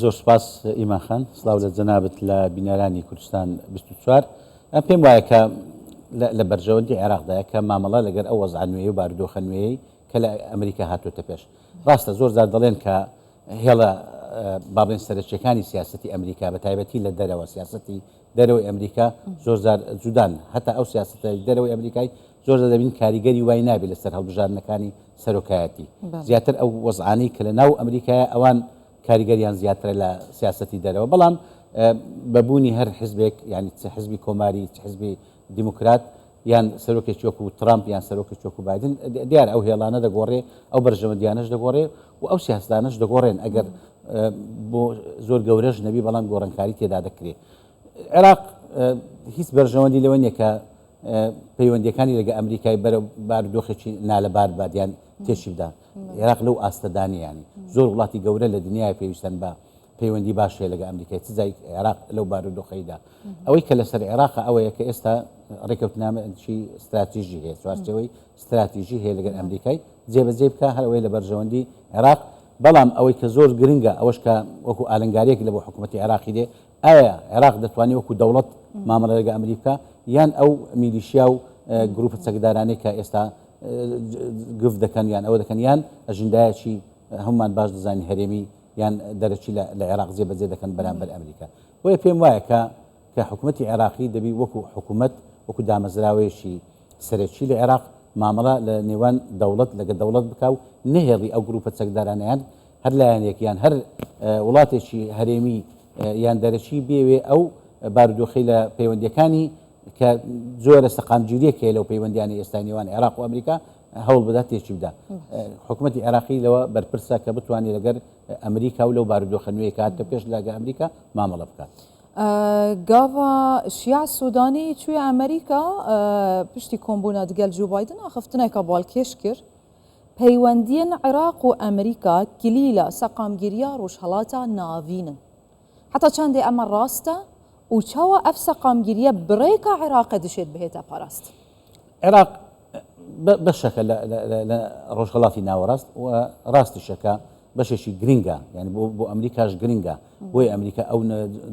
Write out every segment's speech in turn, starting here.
زۆر سوپاس ئیمان خان. سڵاو لە جەنابت لە بینەرانی کوردستان بیست و چوار. من پێم وایە کە لە لە بەرژەوەندی عێراقدایە کە مامەڵە لەگەر ئەو وەزعە نوێی و بارودۆخە نوێیەی کە لە ئەمریکا هاتووەتە پێش. ڕاستە زۆر جار دەڵێن کە هێڵە با بڵێن سەرەکییەکانی سیاسەتی ئەمریکا بە تایبەتی لە دەرەوە سیاسەتی دەرەوەی ئەمریکا زۆر جار جودان. هەتا ئەو سیاسەتە دەرەوەی ئەمریکای زۆرجار دەبینین کاریگەری وای نابێت لەسەر هەڵبژاردنەکانی سەرۆکایەتی، زیاتر ئەو وەزعانەی کە لەناو ئەمریکایە ئەوان کاریگەریان زیاترە لە سیاسەتی دەرەوە، بەڵام بە بوونی هەر حزبێک یانی چ حزبی کۆماری چ حزبی دیموکرات یان سەرۆکێکی وەکو ترامپ یان سەرۆکێکی وەکو بایدن دیارە ئەو هێڵانە دەگۆڕێ، ئەو بەرژەوەندیانەش دەگۆڕێ و ئەو سیاستانەش دەگۆڕێن ئەگەر بۆ زۆر گەورەش نەبی بەڵام گۆڕانکاری تێدا دەکرێ. عێراق هیچ بەرژەوەندی لەوە نییە کە پەیوەندیەکانی لەگە ئەمریکای بەرەو بار دۆخێکی نالەبار بەرد یان تێکی بدا عێراق لەو ئاستەدانی یانی زۆر وڵاتی گەورە لە دنیای پێویستن بە پەیوەندی باشێ لەگە ئەمریکای چ جای عێراق لەو بار و دۆخەیدا ئەوەی کە لەسەر عێراق ئەوەیە کە ئێستا ڕێکەوتنامەی استراتیژی هەیە چوارچەوەی استراتیژی هەیە لەگەر ئەمریکای جێبەجێ بکە هەرەوەی لە بەرژەوەندی عێراق بەڵام ئەوەی کە زۆر گرنگە ئەوەش کە وەکو ئالنگاریەک لە بۆ حکوومەتی عێراقی دێ ئایا عێراق دەتوانێت وەکو دەوڵەت مامەڵە لەگە ئەمریک بکا یان ئەو میلیشیا و گروپە چەکدارانەی کە ئێستا گفت دەکەن یان ئەوە دەکەن یان ئەژندایەکی هەمومان باش دەزانین هەرێمی یان دەرەکی لە عێراق جێ بەجێ دەکەن بەرامبەر ئەمریکا بۆیە پێم وایە کە کە حکوومەتتی عێراقی دەبی وەکو حکوومەت وەکو دامەزراوەیەکی سەرەکی لە عێراق مامەڵە لە نێوان دەوڵەت لەگە دەوڵەت بکە و نەهێڵی ئەو گروپە چەکدارانیان هەر لایەنێک یان هەر وڵاتێکی هەرێمی یان دەرەکی بیەوێ ئەو بارودۆخەی لە پەیوەندیەکانی کە زۆرە سەقامگیریەک هەیە لەو پەیوەندیانە ئێستای نێوان عێراق و ئەمریکا هەوڵ بدات تێکی بدا حکوومەتتی عێراقی لەوە بەرپرسە کە بتوانێت لەگەر ئەمریکا و لەو بارودۆخە نوێی کات کە پێش لاگە ئەمریکا مامەڵە بکات. گاڤا شیع سوودانی چویە ئەمریکا پشتی کۆمبوونە دگەل جو بایدن ئاخفتنێکە باڵکێش کرد. پەیوەندییەن عێراق و ئەمریکا کلیلە سەقامگیرییە ڕوژهەڵاتا ناڤینن. حەتا چەندێ ئەمە ڕاستە و چاوە ئەڤ سەقامگیرییە بڕێکا عێراقە دشێد بهێتە پاراست. عێراق بەشەکە لە ڕوژهەڵاتی ناوەڕاست و ڕاستیشە کە بەشێکی گرینگە یانی بۆ ئەمریکاش گرینگە بۆیە ئەمریکا ئەو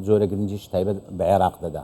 جۆرە گرینگیش تایبەت بە عێراق دەدا.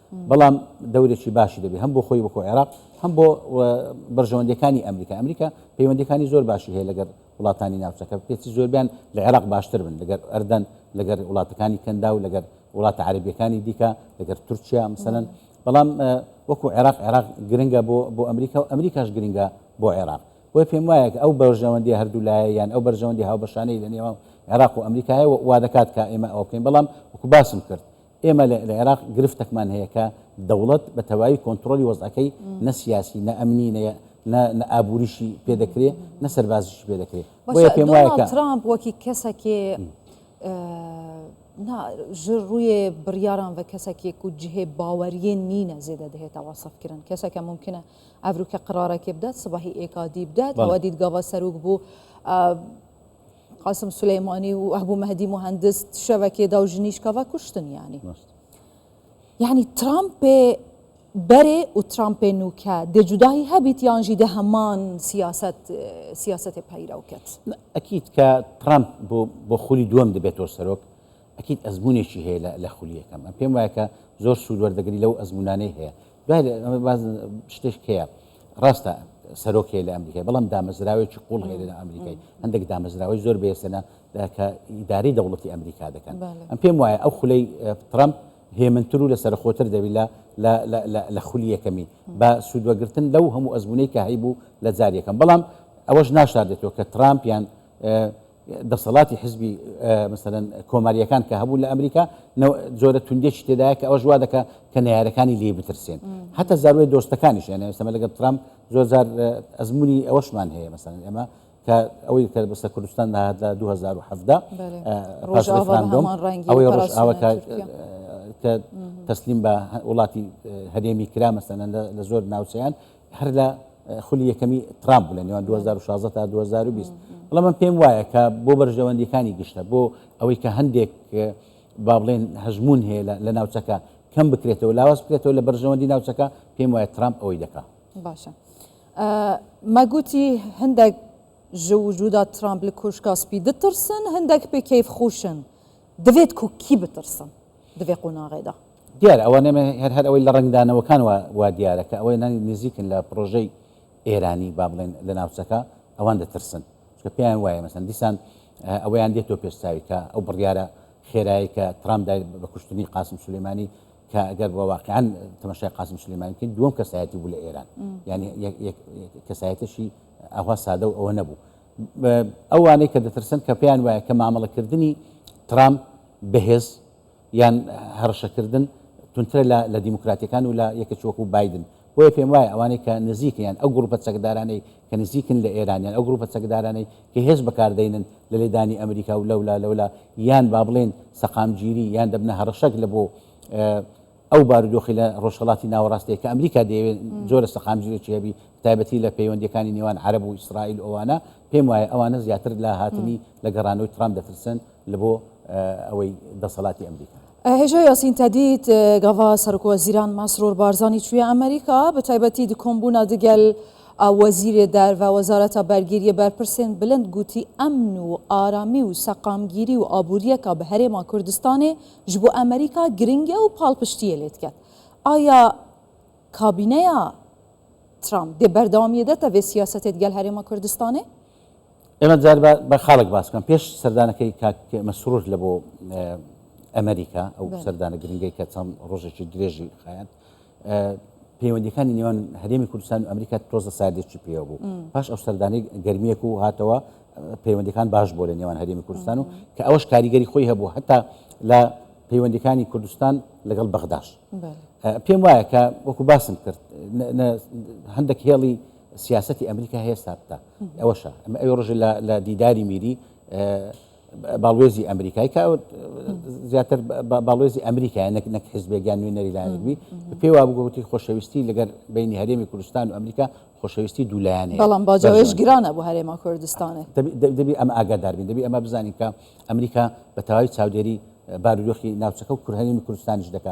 بەڵام دەورێکی باشی دەبێت هەم بۆ خۆی وەکو عێراق هەم بۆ بەرژەوەندەکانی ئەمریکا ئەمریکا پەیوەندەکانی زۆر باشی هەیە لەگەر وڵاتانی ناوچەکە پێچی زۆربیان لە عێراق باشتر بن لەگەر ئەردەن لەگەر وڵاتەکانی کەندا و لەگەر وڵاتە عربیەکانی دیکە لەگەر تورکیا مثلەن بەڵام وەکو عێراق عێراق گرنگە بۆ بۆ ئەمریکا و ئەمریکاش گرنگە بۆ عێراق بۆی پێم وایە ئەو بەرژەوەندی هەردوو لایە یان ئەو بەرژەوەندی هاوبەشانەی لە نێوان عێراق و ئەمریکایە وا دەکات کە ئێمە ئەوە بکەین بەڵام وەکو باسم کرد ئێمە لە عێراق گرفتەکمان هەیە کە دەوڵەت بە تەواوی کۆنتڕۆلی وەزعەکەی نە سیاسی، نە ئەمنی، نە نە ئابووریشی پێ دەکرێ، نە سەربازیشی پێ دەکرێ. بۆیە پێم وایە کە ترامپ وەکی کەسەکێ نا ژر ڕوویێ بڕیاران بە کەسەکێک و جهێ باوەریێ نینە زێدە دەهێتە وەسفکردن کەسەکە ممکنە ئەڤروکە قرارەکێ بدات سباهی ئێکادی بدات ئەوە دیدگاوە سەروک بوو قاسم سلیمانی و ئەبوو مەهدی مهندس شەوەکێدا و ژنیش کەڤە کوشتن یانی یعنی ترامپێ بەرێ و ترامپێ نوکە دێ جوداهی هەبیت یانژی دە هەمان سیاست سیاستێ پەیرەو کەت ئەکیت کە ترامپ بۆ بۆ خولی دووەم دەبێتەوە سەرۆک ئەکید ئەزمونێکی هەیە لە لە خولی یەکەم ئەم پێم وایە کە زۆر سود وەردەگری لەو ئەزمونانەی هەیە دوای لە ئەمە باز شتێک هەیە ڕاستە سەرۆک هەیە لە ئەمریکای بەڵام دامەزراوێکی قوڵ هەیە لە ئەمریکای هەندێک دامەزراوەی زۆر بێسەنە کە ئیداری دەوڵەتی ئەمریکا دەکەن ئەم پێم وایە ئەو خولەی ترامپ هێمنتر و لە سەرخۆتر دەبی لە لە خولی یەکەمی بە سوودوەگرتن لەو هەموو ئەزمونەی کە هەیبوو لە جاریەکەم بەڵام ئەوەش ناشاردێتەوە کە ترامپیان دەسەڵاتی حزبی مەسەلەن کۆماریەکان کە هەبوو لە ئەمریکا جۆرە توندێکی تێدایە کە ئەوەش وا دەکە کە نەیارەکانی لێ بترسێن هەتا زاروێ دۆستەکانیش یانە سەمە لەگەڵ ترام زۆرجار ئەزمموی ئەوەشمان هەیە مەسەن ئێمە کە ئەوەی کە بەسە کوردستان نهات لە 2017 ئەوەی ڕژاوە کە تەسلیم بە وڵاتی هەرێمی کرا مەسەن لە زۆر ناوچیان هەر لە خولی یەکەمی ترامپ بوو لە نێوان دوو هەزار و شازدە تا دوو هەزار و بیست. بەڵام من پێم وایە کە بۆ بەرژەوەندییەکانی گشتە، بۆ ئەوەی کە هەندێک با بڵێین هەژموون هەیە لە ناوچەکە کەم بکرێتەوە، لاواز بکرێتەوە لە بەرژەوەندی ناوچەکە، پێم وایە ترامپ ئەوەی دەکا. باشە. مەگوتی هەندێک ji wicûda Trump li Koşka Spî ditirsin, hindek pê keyfxweş in. Divê ku kî bitirsin di vê qonaxê de? دیارە ئەوە نەمێ هەر هەر ئەوەی لە ڕەنگدانەوەکان وا وا دیارە کە ئەوەی نانی نزیکن لە پڕۆژەی ئێرانی با بڵێن لە ناوچەکە ئەوان دەترسن چونکە پێیان وایە مەسەن دیسان ئەوەیان دێتەوە پێش چاوی کە ئەو بڕیارە خێرایی کە ترامپ دای بە کوشتنی قاسم سولەیمانی کە ئەگەر بە واقعان تەمەشای قاسم سلێمانی بکەین دووەم کەسایەتی بوو لە ئێران یعنی کەسایەتشی ئەوها سادە و ئەوە نەبوو ئەوانەی کە دەترسن کە پێیان وایە کە مامەڵەکردنی ترامپ بەهێز یان هەڕشەکردن توندترە لە لە دیموکراتیەکان و لە یەکێکی وەکو بایدن. بۆیە پێم وایە ئەوانەی کە نزیکن یان ئەو گروپە چەکدارانەی کە نزیکن لە ئێران یان ئەو گروپە چەکدارانەی کە هێز بەکار دەینن لە لێدانی ئەمریکا و لەولا لەولا یان با بڵێین سەقامگیری یان دەبنە هەڕەشەک لە بۆ ئەو بارودۆخی لە ڕۆژهەڵاتی ناوەڕاست هەیە کە ئەمریکا دەیەوێت جۆرە سەقامگیرێکی هەبی بەتایبەتی لە پەیوەندیەکانی نێوان عەرەب و ئیسرائیل و ئەوانە پێم وایە ئەوانە زیاتر لە هاتنی لە گەڕانەوەی ترامپ دەترسن لە بۆ ئەوەی دەسەڵاتی ئەمریکا. هێژا یاسین تەدید گەڤا سەرۆک وەزیران مەسرور بارزانی چویە ئەمریکا، بە تایبەتی دی کۆمبوونە دگەل وەزیرێ دەر و وەزارەتە بەرگریە بەرپرسێن بلند گوتی ئەمن و ئارامی و سەقامگیری و ئابووریەکە بە هەرێما کوردستانێ ژ بۆ ئەمریکا گرنگە و پاڵپشتیێ لێ دکەن. ئایا کابینەیا ترامپ دێ بەردەوامیێ دەتە ڤێ سیاسەتێ دگەل هەرێما کوردستانێ؟ ئێمە جار با بە خاڵێک باس بکەم، پێش سەردانەکەی کاک مەسرور لە بۆ ئەمریکا، ئەو بەڵێ سەردانە گرنگەی کە چەند ڕۆژێکی درێژی خایاند، ئە پەیوەندییەکانی نێوان هەرێمی کوردستان و ئەمریکا تۆزە ساردێکی پێوە بوو. م. پاش ئەو سەردانەی گەرمییەک و هاتەوە، ئە پەیوەندییەکان باش بووە لە نێوان هەرێمی کوردستان و مهم. کە ئەوەش کاریگەری خۆی هەبوو هەتا لە پەیوەندییەکانی کوردستان لەگەڵ بەغداش. بەڵێ. ئە پێم وایە کە وەکوو باسم کرد، نە نە هەندێک هێڵی سیاسەتی ئەمریکا هەیە سابتە ئەوەشە ئەوێ ڕژێ لە دیداری میری باڵوێزی ئەمریکای کە زیاتر باڵوێزی ئەمریکای نەک نەک حزبێکیان نوێ نەریلایەنبی پێی وا بگوتی خۆشەویستی لەگەر بینی هەرێمی کوردستان و ئەمریکا خۆشەویستی دوولایەنێ بەڵام باجەوەش گرانە بۆ هەرێما کوردستانێ دەبی ئەم ئاگاداربین دەبی ئەمە بزانین کە ئەمریکا بە تەواوی چاودێری بارودۆخی ناوچەکە و کورهەرێمی کوردستانیش دەکە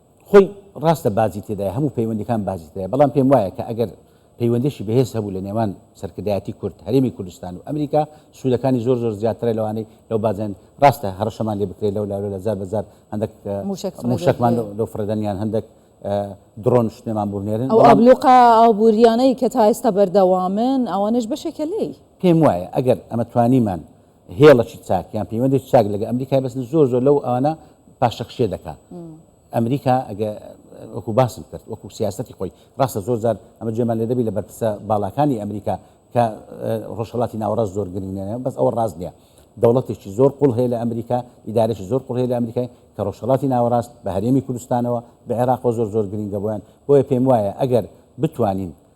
خۆی ڕاستە باجی تێدایە، هەموو پەیوەندیەکان باجی تێدایە، بەڵام پێم وایە کە ئەگەر پەیوەندیەکی بەهێز هەبوو لە نێوان سەرکردایەتی کورد، هەرێمی کوردستان و ئەمریکا، سوودەکانی زۆر زۆر زیاترە لەوانەی لەو باجەن، ڕاستە هەڕەشەمان لێ بکرێت لەو لا لۆلا جار بە جار هەندەک مووشەکمان لۆ فڕێدەن یان هەندەک دڕۆن شتێمان بۆ بنێرن، ئەو ئابلوقە ئابووریانەی کە تا ئێستا بەردەوامن ئەوانەش بەشێکە لێی. پێم وایە ئەگەر ئەمە توانیمان هێڵەکی چاک یان پەیوەندێکی چاک لەگە ئەمریکای بەس زۆر زۆر لەو ئەوانە پاشەکشێ دەکا ئەمریکا ئەگە وەکو باسم کرد وەکو سیاستی خۆی ڕاستە زۆر جار ئەمە جێمان لێ دەبی لە بەرپسە باڵاکانی ئەمریکا کە ڕۆژهڵاتی ناوەڕاست زۆر گرنگێنە بەس ئەوە ڕاست نیە دەوڵەتێکی زۆر قوڵ هەیە لە ئەمریکا ئیدارێکی زۆر قوڵ هەیە لە ئەمریکای کە ڕۆژهڵاتی ناوەڕاست بە هەرێمی کوردستانەوە بە عێراق و زۆر زۆر گرنگە بۆیان بۆیە پێم وایە ئەگەر بتوانین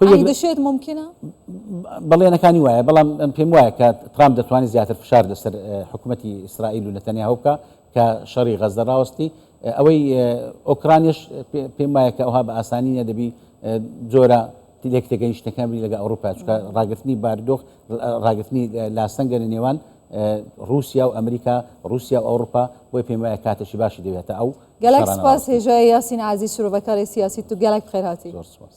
ئەی دەشێت مومکینە؟ بەڵێنەکانی وایە، بەڵام پێم وایە کە ترامپ دەتوانێت زیاتر فشار لەسەر حکوومەتی ئیسرائیل و نەتەنیاهۆ بکا کە شەڕی غەززە ڕاوەستی. ئەوەی ئۆکرانیش پێم وایە کە ئەوها بە ئاسانی نیە دەبی جۆرە لێک تێگەیشتەکان بی لەگە ئەوروپا چکە ڕاگررتنی باردۆخ ڕاگررتنی لاسەنگە لە نێوان رووسیا و ئەمریکا رووسیا و ئەوروپا بۆی پێم وایە کاتەشی باشی دەوێتە ئەو گەلەک سپاس هێژای یاسین عزیز شرۆڤەکاری سیاسی تو گەلەک خێرهاتی زۆر سپاس.